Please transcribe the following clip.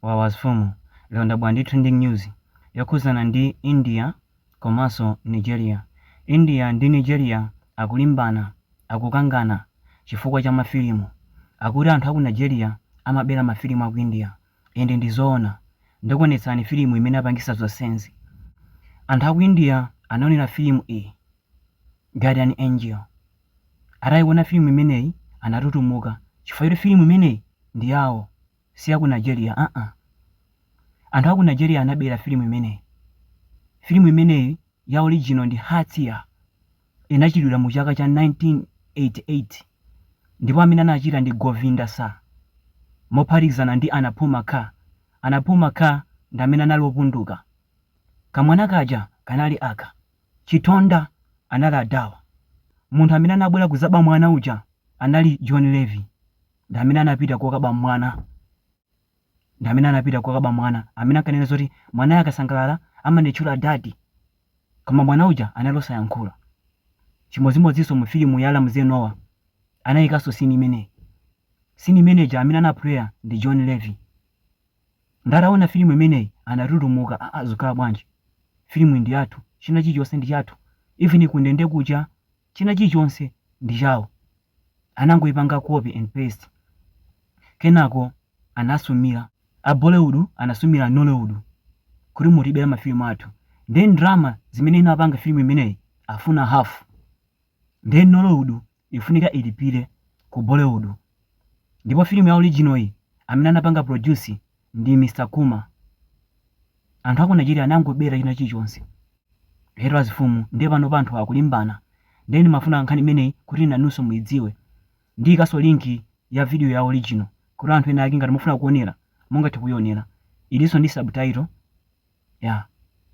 Wawa zifumu, lero ndabwera ndi trending news yokhuzana ndi India komanso Nigeria. India ndi Nigeria akulimbana, akukangana chifukwa cha ma filimu. Akuti anthu aku Nigeria amabera ma filimu aku India and ndi zoona. Ndikuonetsani filimu imene apangisa zonsezi. Anthu aku India anaonera filimu iyi Guardian Angel. Ataiona filimu imeneyi anatutumuka chifukwa choti filimu imeneyi ndi yawo. si ya ku Nigeria aa. Anthu a ku Nigeria anabera filimu imeneyi. Filimu imeneyi ya original ndi Hatya. Inachitidwira mu chaka cha 1988 ndipo amene anachita ndi Govinda Sir mophatikizana ndi Anupam Kher. Anupam Kher ndi amene anali opunduka. Kamwana kaja kanali aka. Chitonda anali adawa. Munthu amene anabwera kuzaba mwana uja anali Johnny Lever. ndi amene anapita kokaba mwana amene akanena zoti mwanayo akasangalala amanditchula daddy koma mwana uja anali osayankhula chimodzimodzinso mu filimu ya ramsey nouah anayikanso scene imeneyi scene imeneja amene anapuleya ndi johnny lever nde ataona filimu imeneyi anatutumuka aa zikhala bwanji filimu ndi yathu china chilichonse ndi chathu even kundende kuja china chilichonse ndi chawo anangoipanga copy and paste kenako anasumira a bollywood anasumira nollywood kuti mutibera mafilimu athu ndeno ndrama zimene inapanga filimu imeneyi afuna half ndeno nollywood ikufunika ilipire ku bollywood ndipo filimu ya original iyi amene anapanga produce ndi Mr Kumar anthu aku Nigeria anangobera china chilichonse lero azifumu nde panopa anthuwa akulimbana ndeno ndimafuna nkhani imeneyi kuti inunso muidziwe ndiikanso link ya video ya original kuti anthu ena ake ngati mukufuna kuonera mungathe kuionera ilinso ndi subtitle yeah.